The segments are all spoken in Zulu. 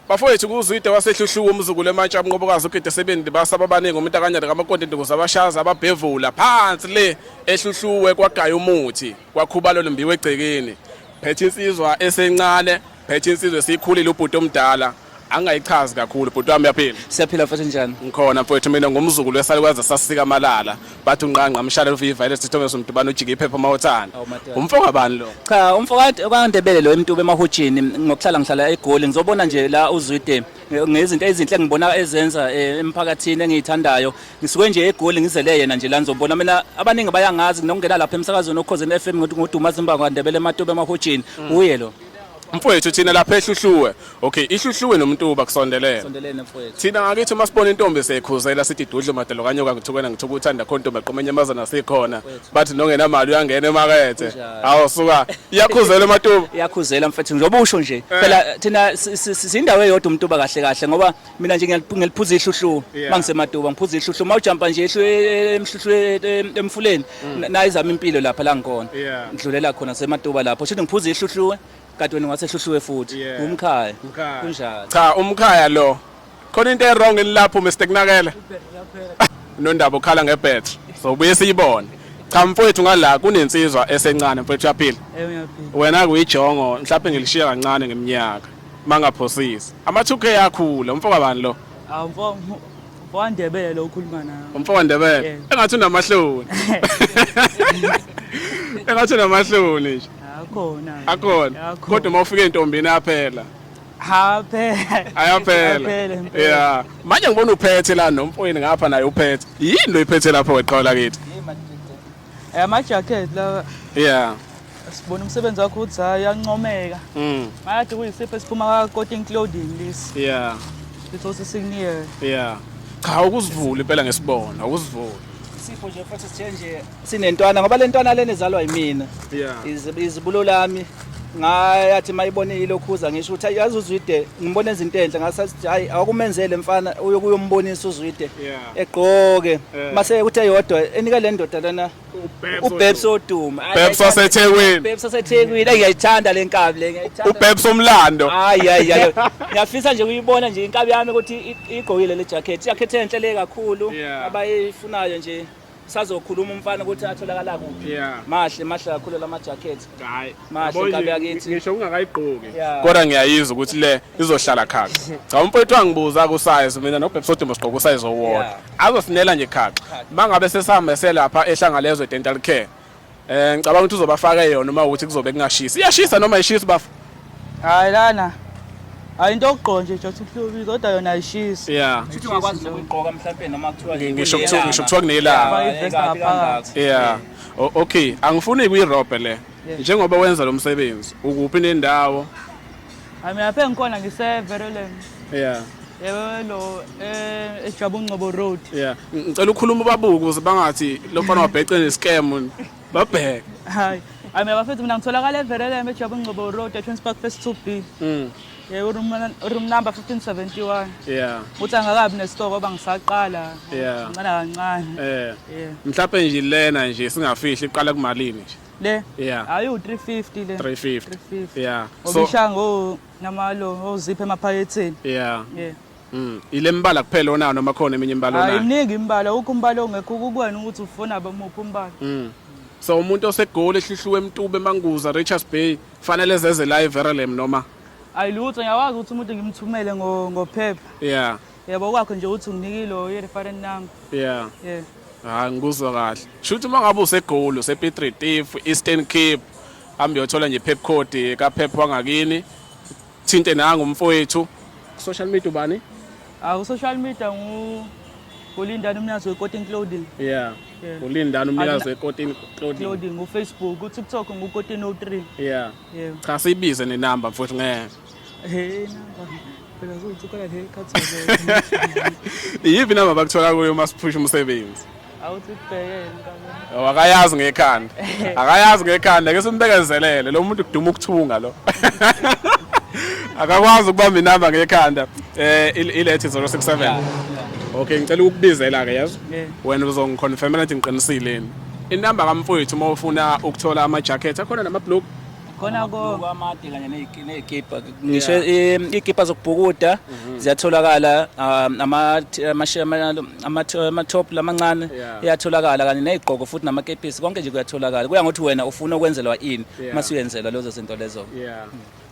Bafowethu kuZwide waseHluhluku umzukulu eMantsha uMnqobokazi ugide sebendi basaba abaningi umuntu akanyana kamakoti induku zabashaza ababhevula phansi le eHluhluwe kwagaya umuthi kwakhuba lolu mbiwe egcekeni phethe insizwa esencane phethe insizwa esikhulile ubhuti omdala angayichazi kakhulu bhuti wami yaphila siyaphila mfethu njani ngikhona mfethu mina ngumzukulu esalukwazi sasika amalala bathi unqanqa mshale lufi virus sithome somdubana ujike iphepha uma uthanda umfo kabani lo cha umfo kwandebele lo emtube emahutshini ngokuhlala ngihlala egoli ngizobona nje la uzwide ngezinto ezinhle engibona ezenza eh, emphakathini engiyithandayo ngisuke nje egoli ngizele yena nje la ngizobona mina abaningi bayangazi nokungena lapha emsakazweni okhozeni FM ngodumazi mbango kwandebele ematobe emahutshini mm. uye lo mfowethu thina lapha ehluhluwe okay ihluhluwe nomuntuba kusondelene sondelene mfowethu thina ngakithi uma sibona intombi seyikhuzela sithi idudlu madalo kanye okangithukena ngithuka uthanda khona intombi eqoma enyamazana sikhona bathi nongenamali uyangena emakethe hawu suka iyakhuzela ematuba iyakhuzela mfowethu njengoba usho nje eh. phela thina si- si- si- sindawo eyodwa umtuba kahle kahle ngoba mina nje ngiyaliphuza ihluhlu yeah. mangisematuba ngiphuza ihluhlu uma ujampa nje ehlu emhluhlu emfuleni mm. nayo izama impilo lapha la ngikhona yeah. ngidlulela khona sematuba lapho shuthi ngiphuza ihluhlu kade wena ngasehluhluwe futhi yeah. umkhaya kunjalo cha umkhaya lo khona into ewrong lapho Mr Kunakela nondaba ukhala ngebetri so buye siyibone cha mfowethu ngala kunensizwa esencane mfowethu yaphila wena kuyijongo mhlawumbe ngilishiya kancane ngeminyaka Mangaphosisi. Ama 2K akhula umfo kabani lo? Ah mfo wandebele ukhuluma nawe. Umfo wandebele. Yeah. Engathi unamahloni. Engathi unamahloni nje. Akhona. Akhona. Kodwa uma ufika entombini yaphela. Haphela. Ayaphela. Yeah. Manje ngibona uphethe la nomfowini ngapha naye uphethe. Yini lo iphethe lapho weqola kithi? Eh, amajacket lawa yeah sibona umsebenzi wakho ukuthi hayi uyancomeka mm. ngathi kuyisipho esiphuma ka-coating clothing lesi yeah lithosi sikuniyele yeah cha ukuzivula impela ngesibona ukuzivula isipho nje futhi sithe nje sinentwana ngoba le ntwana lena izalwa yimina yeah izibulo lami ngayathi mayibone ilokhuza ngisho ukuthi ayazi uzwide ngibona izinto enhle ngasathi hayi akumenzele mfana uyokuyombonisa uzwide egqoke mase ukuthi eyodwa enika le ndoda lana ubebs oduma ubebs wasethekwini ubebs wasethekwini ngiyayithanda le nkabi le ngiyayithanda ubebs omlando hayi hayi hayi ngiyafisa nje kuyibona nje inkabi yami ukuthi igqokile le jacket jacket enhle le kakhulu abayifunayo nje sazokhuluma umfana ukuthi atholakala kuphi Yeah. mahle mahle kakhulu lama jacket Hayi. Mahle, Yabo nje, kabi yakithi. Ngisho ungakayigqoki. Yeah. kodwa ngiyayizwa ukuthi le izohlala khaxa cha umfowethu wangibuza kusize mina nobhebhi sodumba sigqoka usize owodwa Yeah. azosinela nje khaxa mangabe sesihambese lapha ehlangalezwe dental care Eh ngicabanga ukuthi uzobafaka yona uma ukuthi kuzobe kungashisi. Iyashisa noma ishisa bafo? Hayi lana. Hayi into okugqo nje just ukuhlubili kodwa yona ayishisi. Yeah. Futhi ungakwazi nokuyigqoka mhlawumbe noma kuthiwa Ngisho kuthiwa ngisho kuthiwa kunelanga. Faka ivest ngaphakathi. Yeah. O- Okay, angifuni kuyirobe le. Njengoba wenza lo msebenzi, ukuphi nendawo? Hayi mina lapha engikhona ngise Verolem. Yeah. Yebo eh eJabu Ngcobo Road. Yeah. Ngicela ukhuluma ubabuke ukuze bangathi lo mfana wabhece nescam. Babheke. Hayi. Hayi mina bafethu mina ngitholakala eVerolem eJabu Ngcobo Road eTwins Park Phase 2B. Mm. Yebo room room number 1571. Yeah. Uthi angakabi nesitoko oba ngisaqala. Yeah. Ngicela kancane. Eh. Yeah. Mhlawumbe nje lena nje singafihli iqala kumalini nje. le yeah ayi u350 le 350 yeah so ishango namalo ozipha emaphaketheni yeah yeah Mm. Ile mbala kuphela onayo noma khona eminye imbala onayo? Ayiningi imbala, ukho umbala ongekho ukubona ukuthi ufuna abamuphi umbala. Mm. So umuntu osegoli ehlihluwe emtube emanguza Richards Bay fanele zeze la eVerelem noma? Ayilutho ngiyakwazi ukuthi umuntu ngimthumele ngo ngophepha. Yeah. Yebo kwakho nje uthi unginikile uyireferent number. Yeah. Yeah. Hayi ngikuzwa kahle. Shuthi uma ngabe usegoli usePietri Tiff, Eastern Cape, hambe uyothola nje Pep Code ka Pep wangakini. Thinte nangu umfowethu. Social media ubani? Ah, ku social media ngu Ulindani umnikazi weCotton Clothing. Yeah. Yeah. Ulindani umnikazi weCotton Clothing. Clothing uFacebook, uTikTok nguCotton03. Yeah. Yeah. Cha sibize nenamba mfowethu ngeke. iyiphi inamba bakuthola kuyo uma siphusha umsebenzi awakayazi ngekhanda akayazi ngekhanda ke simbekezelele lo muntu kuduma ukuthunga lo akakwazi ukubamba inamba ngekhanda eh ilethi 067 okay ngicela ukubizela ke yazi wena uzongiconfirmela ukuthi ngiqinisile inamba kamfowethu uma ufuna ukuthola ama jacket akhona nama blue khona konke amade kanye nezikipa ngisho izikipa zokubhukuda mhm. ziyatholakala um, ama-top lamancane iyatholakala kanye nezigqoko futhi namakepisi konke nje kuyatholakala kuya ngokuthi wena ufuna ukwenzelwa ini uma suyenzelwa lezo zinto lezo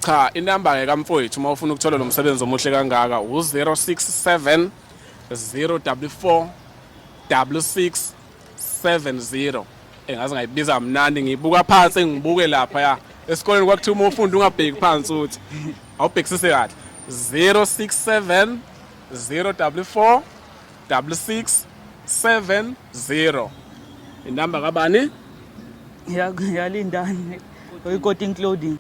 cha inamba-ke kamfowethu uma ufuna ukuthola lo msebenzi omuhle kangaka u-067 044 66 70 engaze ngayibiza mnandi ngibuka phansi ngibuke lapha ya esikoleni kwakuthiwa uma ufunda ungabheki phansi uthi awubhekisise kahle 067 044 6670 inamba kabani yalindani oyikoting clothing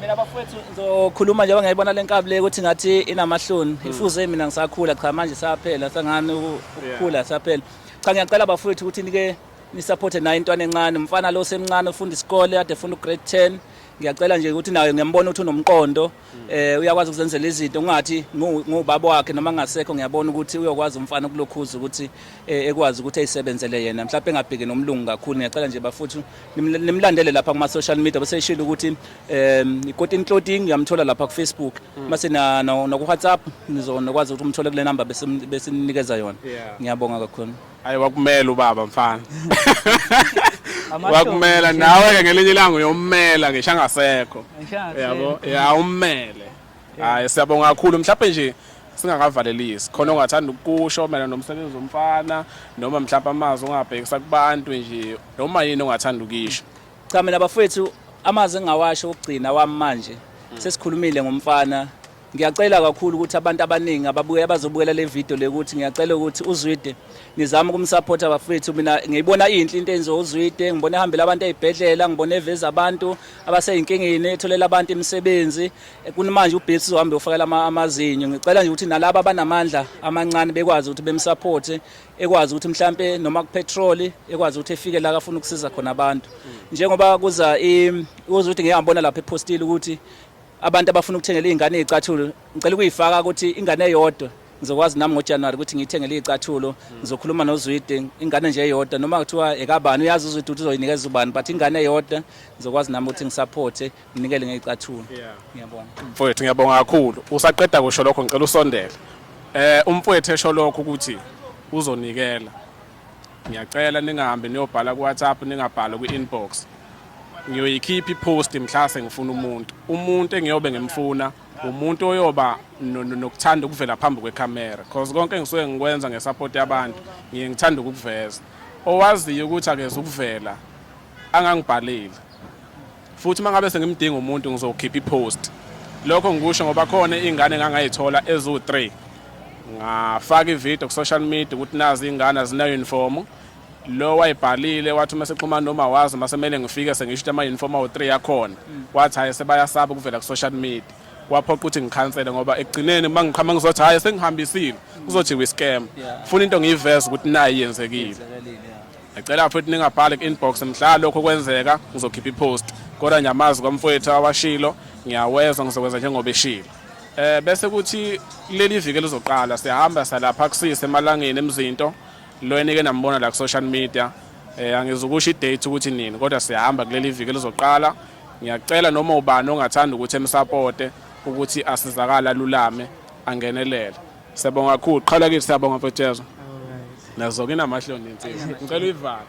mina bafowethu ngizokhuluma njengoba ngiyayibona le nkabi le ukuthi ngathi inamahloni ifuze mina ngisakhula cha manje saphela sangani ukukhula saphela Cha ngiyacela bafowethu ukuthi nike nisupporte naye intwana encane umfana lo semncane ufunda isikole ade funda ugrade 10 ngiyacela nje ukuthi naye ngiyambona ukuthi unomqondo eh uyakwazi ukuzenzela izinto ngathi ngubaba wakhe noma ngasekho ngiyabona ukuthi uyokwazi umfana ukulokhuza ukuthi eh, ekwazi ukuthi ayisebenzele yena mhlawumbe engabheki nomlungu kakhulu ngiyacela nje bafuthu nimlandele lapha kuma social media bese ishilo ukuthi um ikotin clothing uyamthola lapha ku Facebook hmm. mase na na ku WhatsApp nizonokwazi ukuthi umthole kule number bese bese ninikeza yona ngiyabonga kakhulu hayi wakumela ubaba mfana wakumela nawe ke ngelinye ilanga uyommela ngisho angasekho yabo ya ummele hayi siyabonga kakhulu mhlawumbe nje singakavalelisi khona ongathanda ukusho mina nomsebenzi womfana noma mhlawumbe amazwi ongabhekisa kubantu nje noma yini ongathanda ukuyisho cha mina bafowethu amazwi engingawasho okugcina wami manje hmm. sesikhulumile ngomfana ngiyacela kakhulu ukuthi abantu abaningi ababuye abazobukela le video le ukuthi ngiyacela ukuthi uzwide nizame ukumsupporta bafethu mina ngiyibona inhle into enziwa uzwide ngibona ehambela abantu ezibhedlela ngibona eveza abantu abaseyinkingeni etholela abantu imisebenzi kunimanje ubhips uzohambe ufakela amazinyo ngicela nje ukuthi nalabo abanamandla amancane bekwazi ukuthi bemsupporte ekwazi ukuthi mhlampe noma kupetrol ekwazi ukuthi efike la kafuna ukusiza khona abantu njengoba kuza kuza ukuthi ngiyabona lapha epostile ukuthi abantu abafuna ukuthengela izingane izicathulo ngicela ukuyifaka ukuthi ingane eyodwa ngizokwazi nami ngoJanuary ukuthi ngiyithengele izicathulo ngizokhuluma noZwide ingane nje eyodwa noma kuthiwa ekabani uyazi uZwide ukuthi uzoyinikeza ubani but ingane eyodwa ngizokwazi nami ukuthi ngisupporte Nginikele ngeyicathulo. Yeah. Ngiyabonga. Mfowethu ngiyabonga kakhulu. Usaqeda kusho lokho ngicela usondele. Eh umfowethu esho lokho ukuthi uzonikela. Ngiyacela ningahambe niyobhala ku WhatsApp ningabhala ku inbox. Ngiyoyikhipha ipost mhla sengifuna umuntu. Umuntu engiyobe ngimfuna umuntu oyoba nokuthanda ukuvela phambi kwekhamera because konke engisuke ngikwenza ngesupport yabantu ngiye ngithanda ukukuveza owaziyo ukuthi akeze ukuvela angangibhaleli Futhi uma ngabe sengimdinga umuntu ngizokhipha ipost. Lokho ngikusho ngoba khona ingane engangayithola eziwu-3. Ngafaka ivideo ku-social media ukuthi nazi ingane azina-uniform. Lo wayibhalile wathi uma sexhumana noma wazi uma semele ngifike sengisho ukuthi ama-uniform awu-3 yakhona. Wathi hhayi sebayasaba ukuvela ku-social media. Kwaphoqa ukuthi ngikhansele ngoba ekugcineni uma ngiqhama ngizothi hhayi sengihambisile kuzothi wi-scam. Funa into ngiyiveze ukuthi nayi yenzekile. Ngicela futhi ningabhali ku-inbox mhla lokho kwenzeka ngizokhipha ipost kodwa ngiyamazi kwamfowethu awashilo ngiyawezwa ngizokwenza njengoba eshilo eh bese kuthi leli viki lizoqala sihamba salapha kusise emalangeni emzinto lo enike nambona la ku social media eh angizukusho idate ukuthi nini kodwa sihamba kuleli viki lizoqala ngiyacela noma ubani ongathanda ukuthi emsupporte ukuthi asizakala lulame angenelele Siyabonga kakhulu. Qhala kithi siyabonga mfethu Jezo. Nazo ke namahloni insizwa. Ngicela uyivale.